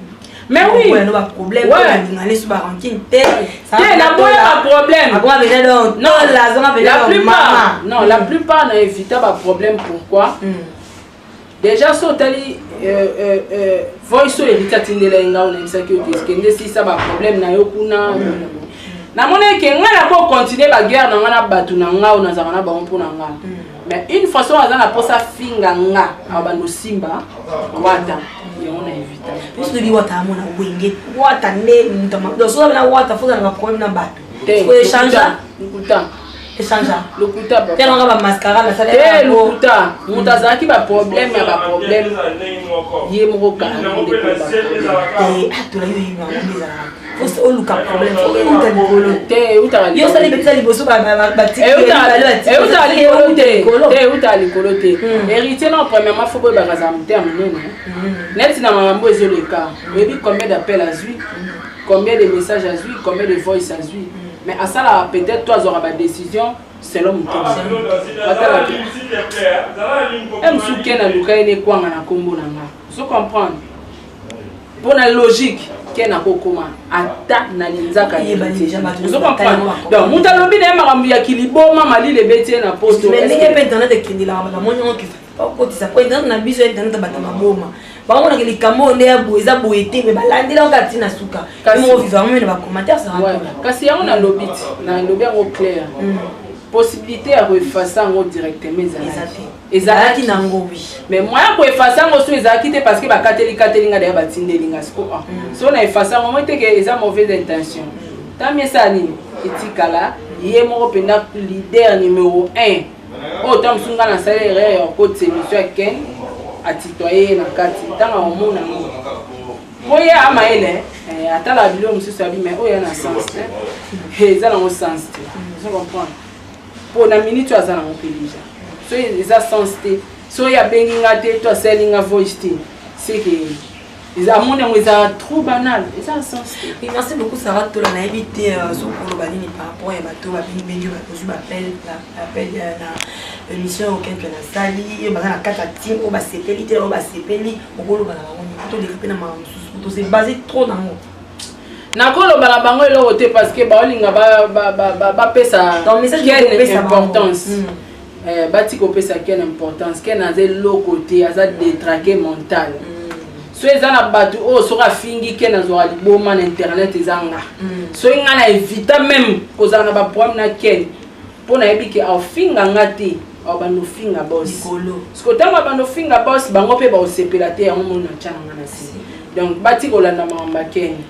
mais oui ouais, ba problème ouais. sur ba ranking te te na boya ba problème akwa bena donc non la zona bena la plupart non la plupart na évita ba problème pourquoi mm. déjà so tali euh, euh, euh, voice oyo ebita tindela ye ngai onayebisaki yo kende sisa ba problème na yo kuna namoni eke ngai nakocontinue baguerre na ngai na bato na ngai oyo nazalaka na bango mpo na ngai mais une fois soki aza na mposa afinga nga abanda osimba wata yango na evita biso toyebi wata amona wenge wata nde mutamasoki na wata fozalaka problème na bato koechange lokuta echange lokuta telanga bamascara nasalate lokuta moto azalaki baproblème ya baproblème ye moko kala oluka problème outa likolo te yo osali betiza liboso euta likolo te héritier na premièrement fo boyebaka za motema monene neti na mamambo ezoleka oyebi combien d'appel azwi combien de message azwi combien de voice azwi mais asalaka peut-être to azwaka badécision selon motema msuke na luka ye nekwanga na nkombo na nga so comprendre mpo na logique ken akokoma ata na linzaka donc moto alobi na ye makambo ya kiliboma malili ebeti ye na postondenge mpe internet ekendelaka bato amoni yango kotisa po internet na biso internet bato maboma bamonaka likambo oyo nde ya boye eza boye te me balandela yango kati na suka moko viva yango mene bacommentaire kasi yango nalobi ti nalobi yango claire mm. possibilité ya koefasa yango directement ezalaki ezalaki na ngo oui mais moyen ya koefase yango so ezalaki te parce que bakateli kateli nga daya batindeli nga siko ah. mm. so na efase yango moi teke eza mauvaise intention tami esala nini etikala ye moko mpenza leader numero 1 oyo ntango mosusu nga nasali erreur ya okotisa émission ya ken atitoye ye na kati ntango akomona ngo mpo ye amayele eh, atalaka biloko mosusu abi mai oyo ya na sens te eh, eza nango sens te comprendre mpo na minute oyo aza nango mpe deja so eza sens te so oyo abengi nga te to asali nga voice te seke amoni yango eza trop banal eza sens te merci beaucoup sara tola nayebi te euh, sokoloba nini par rapport ya bato babengibengi bakozwi bapel appel euh, na émission oyo kenke nasali baza na kati ya tim oyo basepeli te oyo basepeli okoloba na bango nini toleka mpe na makambo mosusu tose base trop nango nakoloba na bango eloko te parce que baolinga bapesa quelle importance mm. eh, bati kopesa quelle importance ken aza eloko te aza detraqué mental mm. so eza na bato oyo oh, soki afingi ken azwaka liboma na internet eza nga mm. soki ngai na evita meme kozala na baproblème na ken mpo nayebi ke aofinga nga te obanda ofinga bos siko ntango abanda ofinga bos bango mpe baosepela te yango mona ncananga na se donc bati kolanda makambo akenge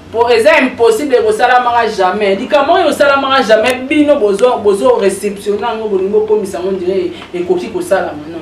mpo eza impossible ekosalamaka jamais likambo oyo osalamaka jamais bino bozo receptionne yango bolingi okomisa yango ndire ekoki kosalama non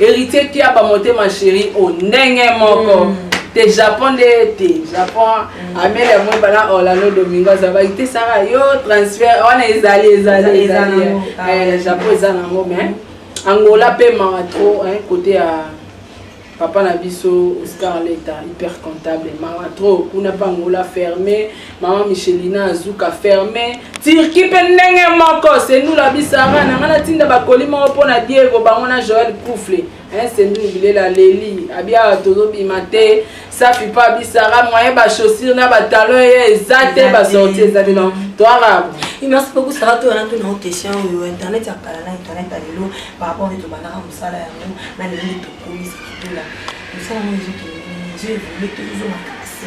Héritier Kiaba motema chéri o ndenge moko. Mm. te japon nde te japon mm. amele yango bana orlando domingo azabaki te saka yo transfert wana ezali ezali ezali ah. eh, japon eza nango mais angola mpe mawa trop kote ya papa na biso oscar leta hyper comptable mawa trop kuna mpe angola ferme Maman Michelina Azuka ferme Turquie pe ndenge moko Sendou la bisara na ngana tinda ba colis moko pona Diego bango na Joël Koufle hein Sendou bilela leli abia tozo bima te safi pa bisara moyen ba chaussures na ba talons ye eza te ba sorties eza te donc to arabe merci beaucoup sara to na tuna question yo internet ya kala na internet ya lelo par rapport nde tobandaka mosala yango na lelo nde tokomisa kitola mosala yango ezokende nini nzoi evolue tozozonga kasi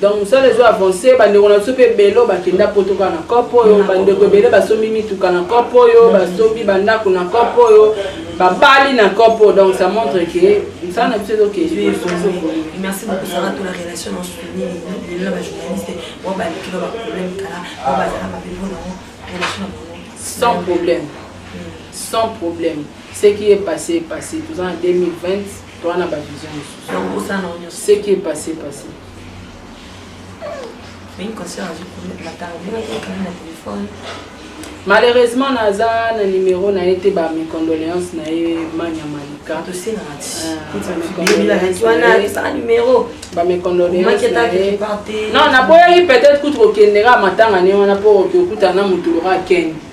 donc mosala ezo avance bandeko na biso mpe ebele oyo bakenda poto kaka na cope oyo bandeko ebele basombi mituka na cope oyo basombi bandako na cope oyo babali na cope oyo donc ça montre que mosala na biso ezoke merci beaucoup sara to la relation na soutenir lelo na bajournaliste oyo baleki na baproblème kala oyo bazala mabe mpo na yango relation na bango sans problème sans problème ce qui est passé est passé toza na 2020 toa na bavision mosusuce qui est passé passé malheureusement naza na numero na ye te ba mes condoléances na ye manya malika ba mes condoléances na ye non naboyaki peut-être kutu kokendeka matanga ne wana mpo okokutana na motu loka akende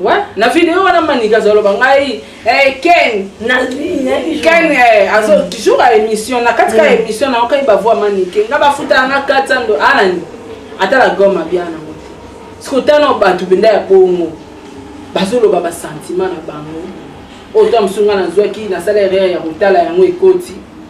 Ouais, na vidéo wana manika azoloba ngai eh, ken ken eh, azo mm. toujours a émission na kati ka mm. émission na okai bavua manike nga bafutaka nga 400 do anani ah, ata la goma bia nango te sikotana bato benda ya bongo bazoloba basentima na bango oyo to mosunga nazwaki nasala erreur ya kotala yango ekoti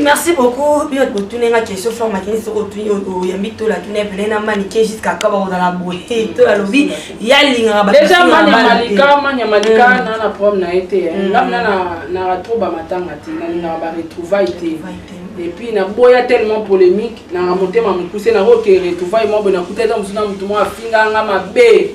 merci beaucoup bino botuni nga question fort makini soki otuni oyambi tola tuni ebele na manike jusqu'à ka bakozala boye te tola alobi ya alingaka bamalika na na problème na ye te ngam na na trop bamatanga te nalingaka baretrouvaille te epuis naboya tellement polémique nanga motema mokuse nakoke retrouvaille mwa boye nakuta eza mosusu na motu mwa afinganga mabe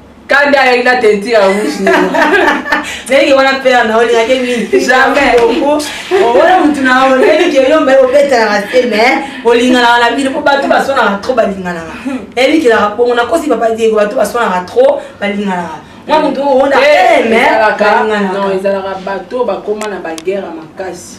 Kanda ayaki na teinture ya rouge nini? Ndenge wana mpe na naoli yake mingi. Jamais. Owana mutu na yo nayebi ke yo mbaye obetanaka te mais olinganaka na bino mpo bato baswanaka trop balinganaka. Nayebi kelaka bongo nakosi papa Diego bato baswanaka trop balinganaka. Mwa mutu oyo ona te mais balinganaka. Non ezalaka bato bakoma na baguerre makasi.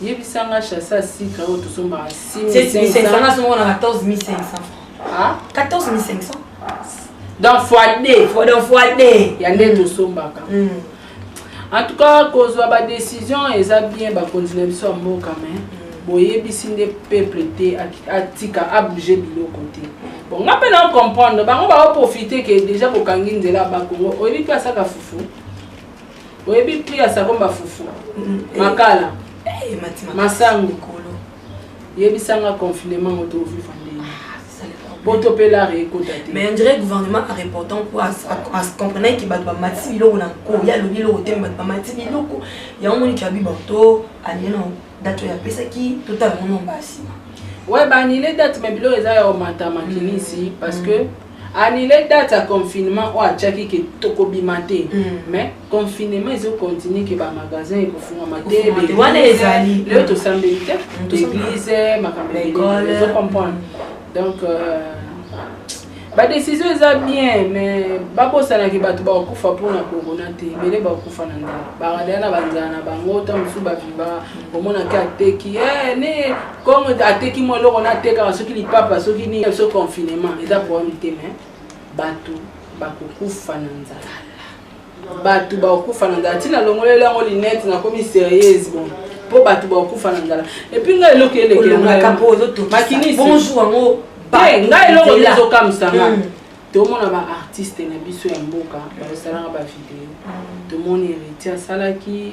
Yebisa nga chasse à sucre oyo tosombaka 6500. Nga somo na 14500 francs. Ah, 14500. Donc fois 2. Fois donc fois 2. Ya nde tosombaka. Mm. En tout cas kozwa ba décision eza bien bakonzi na biso ya mboka mais mm. boyebisi nde peuple te atika abouge biloko te bon nga mpe na comprendre bango baoprofite ke déjà bokangi nzela bakongo oyebi mpe asaka fufu oyebi prix ya savon ba fufu makala masangu yebisanga confinement ngo toviva ndenge po topelare ekota te mais ondire gouvernement a reportant po comprenaki bato bamati biloko na nko ye alobi eloko te bato bamati biloko yango moni kiabi bato aneno date oyo apesaki totala yango nomba nsima we banile date me biloko eza ya omata makinisi parce que mm. annule date ya confinement oyo atiaki ke tokobima te mais confinement ezo continue ke bamagasin ekofungama te wana ezali leo tosambeli te toeglise makambo ezo comprendre donc euh, badesizio eza bien mais babosanaki bato bakokufa mpona corona te ebele bakokufa na nzala baradela na banzala na bango ntango mosusu baviva omonaki ateki eh, ne Comme ateki moi loko na teka soki lipapa soki ni so confinement eza problème te mais bato bakokufa na nzala bato bakokufa na nzala ntina longoleli yango linete nakomi serieuse bon mpo bato bakokufa na nzala epuis ngai eloko elekelemakinisimakiniso yango te ngai eloko ezokamwisa nga hmm. tomona baartiste na biso ya mboka bazosalaka bavideo hmm. tomoni héritier asalaki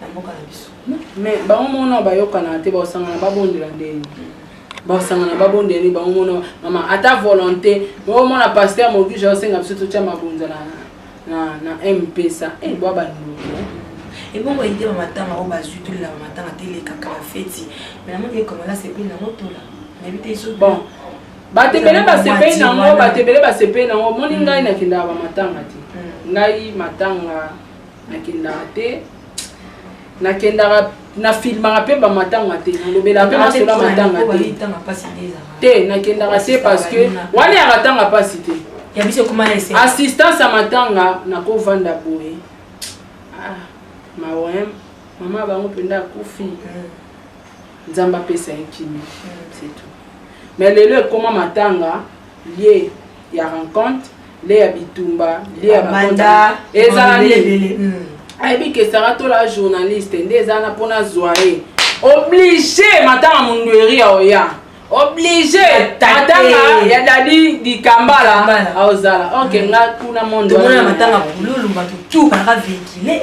na mboka na biso mais bango mona bayokanaka te baosangana babondela ndeni basangana babondela nde bango mona mama ata volonté omona paster mogisha osenga biso totya mabonza na na mpesa eh, bwa bandoki eh. ebongo ete bamatanga oyo bazwi tolela bamatanga te elekaka bafeti me namoni ekomala sepeli nango tola nayebi te iso bon bato ebele basepeli nango bato ebele basepeli nango omoni ngai nakendaka bamatanga te hmm. ngai matanga nakendaka te nakendaka nafilmaka mpe bamatanga te nalobela mpe nasola matanga te te nakendaka te parce que wana yaka ntanga mpasi te assistance ya matanga nakovanda boye ah, mawe mama bango mpenza akufi mm. nzambe apesa ye kimi mm. c'est tout mais lelo ekoma matanga lie ya rencontre le ya bitumba le ya manda ezala nini hmm. ayebi ke sara tola journaliste nde eza na mpona zwa ye oblige matanga mundueri ya oya oblige matanga ya dadi dikambala aozala ok nga kuna mondomatanga bululu bato tu baka vehicule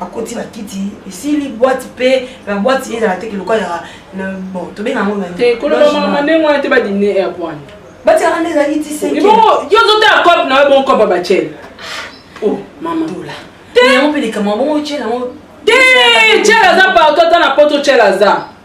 akoti na kiti esili bwati mpe babwati ezala te kiloka ya bon tobenga yango kolobamama ndenge wana te badine ya bwana batiaka nde ezalaki ti yo ozotala cope na yo bongo cope batiele o oh, mama dola te yango mpe likambo bongo otyela yango te tyela aza partout ata na poto tyela aza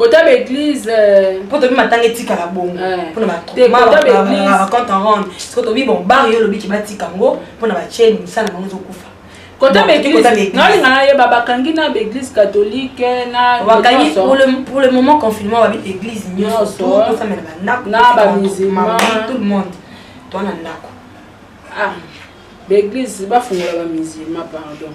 kota ba église euh, mpo tobi matanga etikala bongo mpona bacompte en rende siko tobi bon bare yo olobi ke batika yango mpona bacheni mosala bango ezokufa kota baeglisenalinga nayeba bakangi na baeglise catholique eh, nabakangi pour le moment confinement babi église nyonso tosamela bandako na bamusulman tout le monde toa na ndako ah baeglise bafungola bamusulman pardon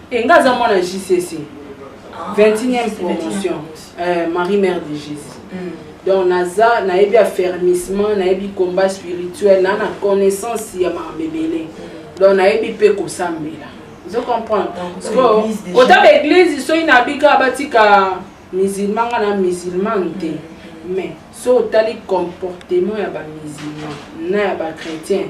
Et nga aza mwana JCC. 21e ah, promotion. Euh, Marie Mère de Jésus. Mm. Donc naza nayebi affermissement, nayebi combat spirituel, na na connaissance ya mabebele. Mm. Donc nayebi pe kosambela. Vous comprenez? Sikoyo kota ba église soki nabika batika musulman nga na musulman te. Mm. Mais so otali comportement ya ba musulman na ya ba chrétien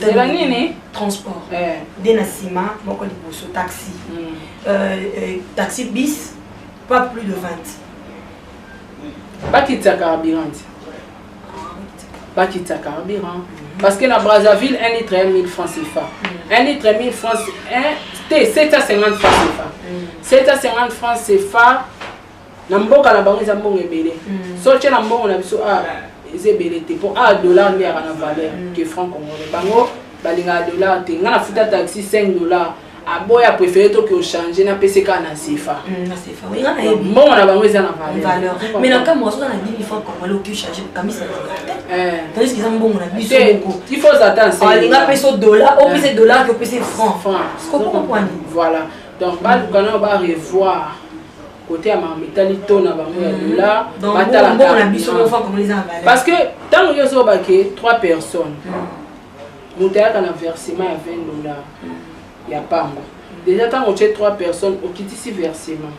zela nini transport eh. nde na nsima moko liboso taxi hmm. euh, euh, taxi bis pas plus de 20 bakitisa carburant ti bakitisa carburant hmm. parce que na brazzaville 1 litre ya 1000 francs efa 1 litre ya 1000 francs te 750 francs efa 750 francs efa na mboka na bango eza mbongo ebele mm. so tye na mbongo na biso a ah, eza ebele te mpo a ah, dollar nde yaka na valeur mm. ke franc congolais bango balingaka dollar te ngai nafuta taxi 5 dollar aboya préféré toki ochange napesi kaka na sefa mm, mbongo na bango eza na valeur mais na nkambo azoza na 10 franc congolais oki ochange kamisa tandis eza mbongo na biso il faut ata alinga apesi o dollar opesi eh. dollar ke opesi franc franc voilà donc baluka nao barevoir kote ya makambo etali to na bango ya mm-hmm. dola batalakaparce que ntango yo ozoba ke 3 personnes mm-hmm. moto ayaka na versement ya 20 dollar mm-hmm. ya pamba déjà ntango otye 3 personnes okitisi versement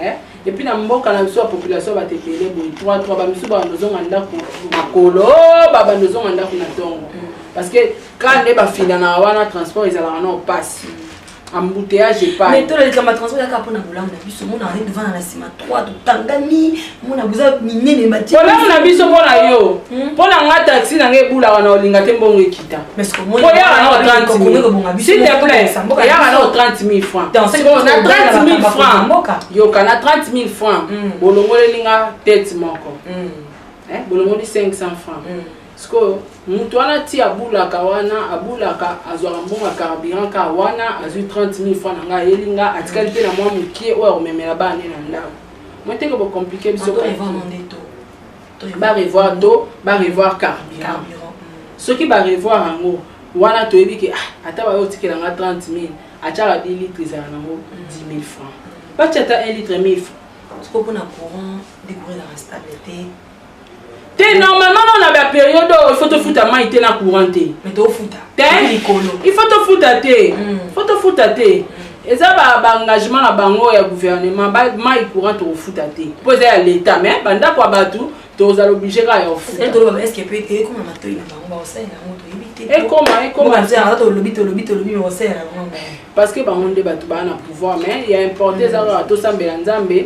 eh? epuis na mboka na biso ya population bato ebele boye 3 3 bamisusu babanda ozonga ndako makolo babanda ozonga ndako na ntongo parce que ka nde bafindanaka wana transport ezalaka nao mpasi embouteillage epai mais tola likambo ya transport yaka mpona bolamu na biso mona azali devana na nsima trois totangani mona boza minene bati bolamu na biso mpo na yo mpo hmm? na nga taxi na nga ebulaka na olinga te mbongo ekita oyaka nao 30 s'il te plaît oyaka nao 30 000 francs na 30 000 francs yoka na 30 000 francs hmm. bolongoleli nga tete moko hmm. eh, bolongoli 500 francs Sikoyo mutu wana ti abulaka wana abulaka azwaka mbongo ya carburant ka wana azwi 30000 francs na ngai ayeli nga atikali mpe na mwa mokie oyo akomemela bana nde na ndako moteke bocomplike biso barevoir to barevoir carburant soki barevoir yango wana toyebi ke ah, ata bayo otikela nga 30000 atyaka 10 litre ezala nango 10000 francs batya ata 1 litre 1000 francs sikoyo mpona courant decourelaka stable te te normalement nao na baperiode oyo ifo tofuta mai te na courant te ifo tofuta te fo tofuta te eza baengagement na bango ya gouvernement mai courant tokofuta te mpo eza ya leta mais bandako ya bato tozala oblige kaka ya kofutakoma parce que bango nde bato baa na pouvoir mais ya importe eza kaka tosambela nzambe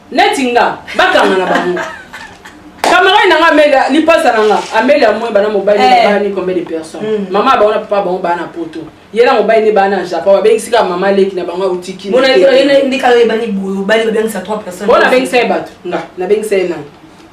neti nga bakanga na bango camarade na nga ameli lipasa na nga ameli amoi bana mobali na eh. bani combien de personnes hmm. mama bango na papa bango bana poto ye na mobali nde bana na japon babengisi kaka mama leki na bango auti kinaona abengisa ye bato nga nabengisa ye nani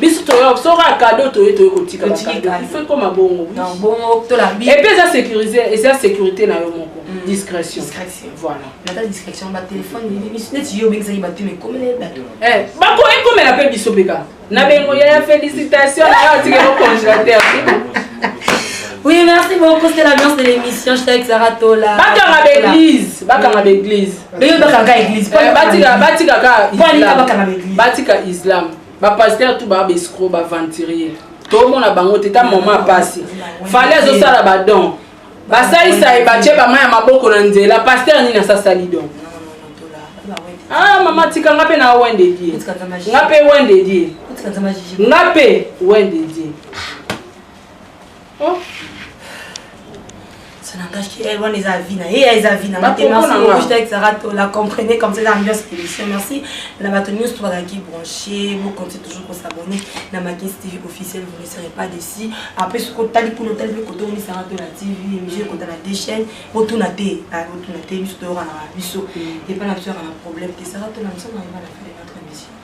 biso toyo soki kaka kado toye toye kotika fait koma bongo epe eza sécurise eza sécurité na yo moko mm. discrétion voilà bako ekomela mpe biso mpe kaka na bengo yaya félicitation na yo atikelo congélateur Oui, merci beaucoup. C'était l'ambiance de l'émission. J'étais avec Sarah Tola. Bakanga l'église. Bakanga l'église. Mais yo bakanga l'église. Batika bakanga l'église. Batika islam. ba pasteur tout ba escro ba aventurier tomona bango te ta mama apasi fale azosala badon basalisa ye batye bama ya maboko na nzela pasteur nini asasali don ah mama tika nga mpe na wende die nga mpe wende die nga mpe wende die Eh, wana eza vie na ye eza vie na motema ezaka tola comprenez comme ça eza ambiance émission merci na bato nyonso to bazalaki branché bocontinue toujours kosabonne na makisi tv officiel vous ne serez pas déci après soki otali kuna otali mpe koto omisaka to na tv émission ekota na deux chaîne botuna te ah, botuna te biso toyokanaka biso epa na biso yaka na problème te saka tola mosala na eva na fele notre émission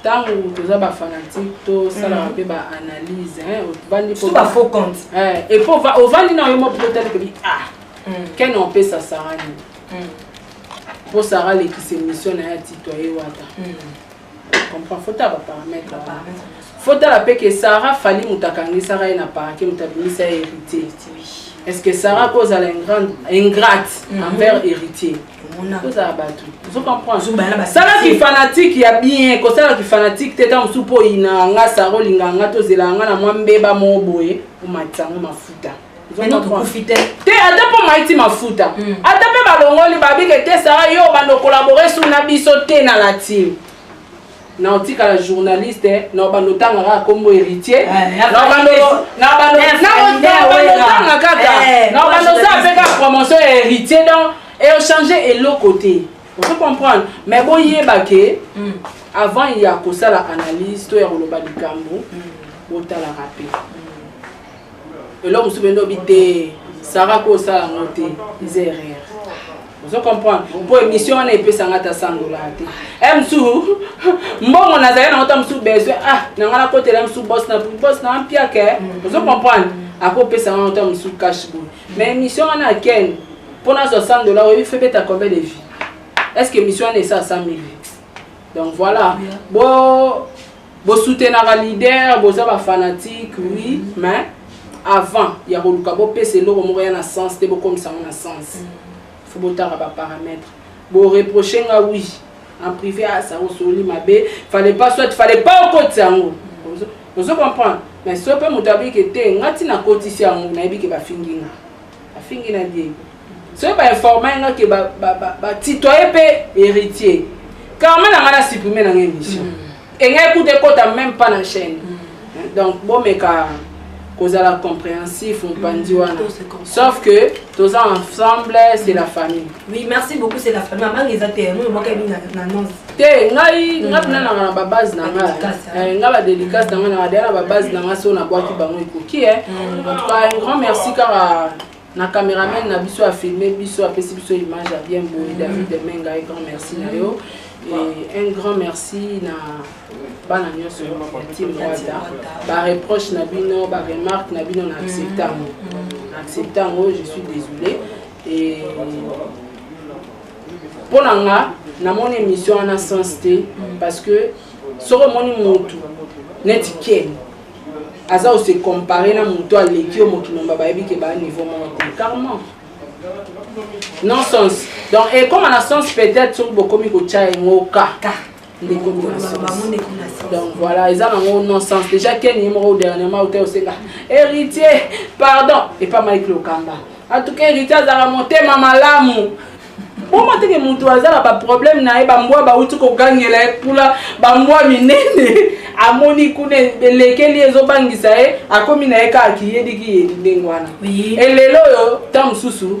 ntango toza bafanatike tosalaka mpe mm. baanalyse ovandi faux compte eh, epo ovandi na yo moko mpo otali kobi a ah, mm. kene opesa sara nini mm. mpo sara alekisa émission na ye atitoye wata comprend fo tala baparametre fo tala mpe ke sara fali moto akangisaka ye na parke moto abimisa ye héritier est ce que sara kozala ingrate envers héritier mm -hmm. sala kifanatike ya bien kosala kifanatike te ta mosusu mpo oyinaka nga sara olingaka nga tozelaka nga na mwa mbeba moko boye omatisa yango mafuta te ata mpo maiti mafuta hmm. ata mpe balongoli babike te sara yo banokolabore su na biso te na latine na otikala journaliste na obanda otanga kaka kombo héritier naobandotanga kaka na obanda oza mpe kaka promotion ya héritier donc echange eloko te ozo comprendre mais boyeba ke hmm. avant ya kosala analyse to ya koloba likambo hmm. botalaka mpe eloko mosusu bende obi te sara ko osala yango te eza erreur ozo comprendre mpo émission wana epesanga ata sandola te e mosusu mbongo nazali nango ta mosusu besoin ah na ngai nakotela mosusu bos na bos na mpiake ozo comprendre akopesanga ngo ta mosusu cash boy mais émission wana akene mpo nazwa 100 dollars oyebi fe beta combien de vie est ce que émission wana esa 100 mille donc voilà bo Bo soutenaka leader boza ba fanatique oui mais avant ya koluka bopesa eloko moko ya na sens te bokomisa yango na sens mm. fo botaka ba paramètre boreproche nga oui en privé asa ah, osololi mabe fallait pas soit fallait pas okotisa yango ozo comprendre mais so mpe moto ayebi ke te nga ntina akotisi yango nayebi ke bafingi nga afingi na diego soki bainforma nga ke batitoye mpe héritier karma na nga na supprime na nga émission mm. engai kuta ekota même pas na chaîne mm. donc bomeka kozala compréhensif mopanzi mm, wana sauf que toza ensemble c'est la famille Oui, merci beaucoup, c'est la famille. Maman, ils étaient, nous, moi, Camille, l'annonce. Te, ngai, ngai, na na na ba base na ngai. Eh, ngai ba dédicace na ngai na dia na ba base na ngai so na boaki bango ikoki eh. En tout cas, un grand merci car na cameraman na biso a filmé biso apesi biso image ya bien boye David Demenga, un grand merci na yo. Et un grand merci na bana nyonso ya team Rwanda. Ba reproche na bino, ba remarque na bino na accepta yango. Na accepta yango, je suis désolée. mpo na nga namoni émission wana sens te parce que soki omoni motu neti ken aza ose compare na motu aleki yo mokili mba bayebi ke baa niveau moko te carrement non sens donc ekoma na sens peut-être soki bokomi kotya yango ka ndeko donc voilà eza nango non sens déjà keni ye moko dernièrement ote osenga héritier pardon epa mike lokamba en tout cas héritier azalaka motema malamu boma teke moto aza na baproblème na ye bambwa bauti kogangela ye mpula bambwa minene amoni kuna elekeli ezobangisa ye akomi na ye kaka kiyedikiyedi ndenge wana elelo oyo ntango mosusu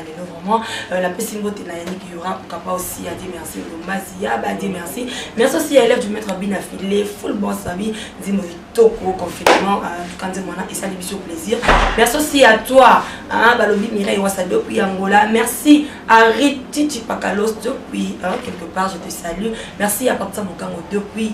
lelo vraiment euh, napesi mbote na yannick yora okapa aussi adie merci lombasi yaba adie merci merci aussi ya élève du maître abina file full bon sabi nzimbo kitoko confinement euh, tuka nzimbo wana esali biso plaisir merci aussi à toi balobi mireille wasa depuis angola merci à rititi pakalos depuis quelque part je te salue merci à patisa mokango depuis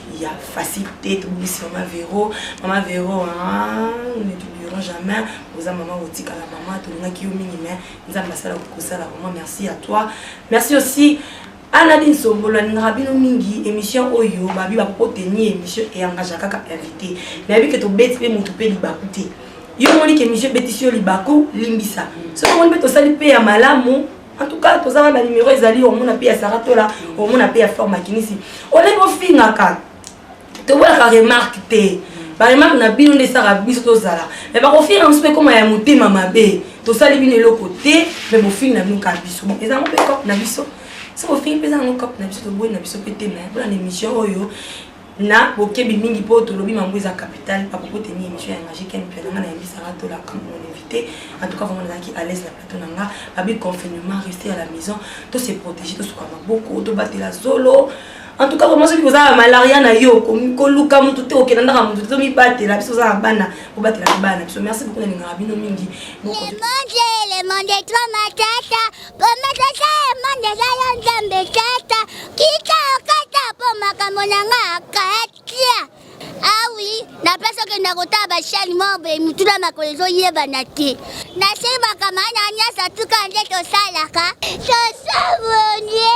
ya facile te tobongisi mama vero mama vero ne t'oublierons jamais oza mama otikala mama tolingaki yo mingi mais nzambe asala kokosala vraiment merci à toi merci aussi aladi nsombolo alingaka bino mingi émission oyo babi bakokoteni émission eyangaka kaka invité nayebi ke tobeti mpe motu mpe libaku te yo omoni ke émission ebetisi yo libaku limbisa soki omoni mpe tosali mpe ya malamu en tout cas tozanga ba numero ezali omona mpe ya sara tola omona mpe ya flor makinisi olenge ofingaka tobolaka remarque te baremarque na bino nde esaka biso tozala me bakofinga biso mpe ekoma ya motema mabe tosali bino eloko te me bofingi na bino kaka biso bon ezango mpe cope na biso soki ofingi mpe ezango cope na biso toboyi na biso mpe te me mpona na émission oyo na bokebi mingi mpo tolobi mango eza capital bakopo teni émission ya magie ken mpe nanga nayebisaka tolaka mon invité en tout cas vraiment nazalaki à l'aise na plateau na nga babi confinement rester à la maison to se protéger tosuka maboko tobatela zolo en tout cas vraiment soki kozala malaria na yo koluka motu te okenda ndaka motu te tomibatela biso ozala bana kobatela mpe bana na biso merci beaucoup nalingaka bino mingi komatata emonde eza yo nzambe tata kita okata mpo makambo na nga akatia awi ah napesi okenda kotala bashani mobe mituna makolo ezoyebana te nase makama na nyonso tuka nde tosalaka tosabone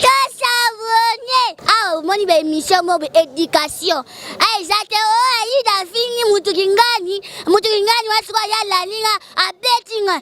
tosabone awa ah, omoni baemission mobe education ah, eza te o oh, aida fingi motu kingani motu kingani wasikoya lalinga abetinga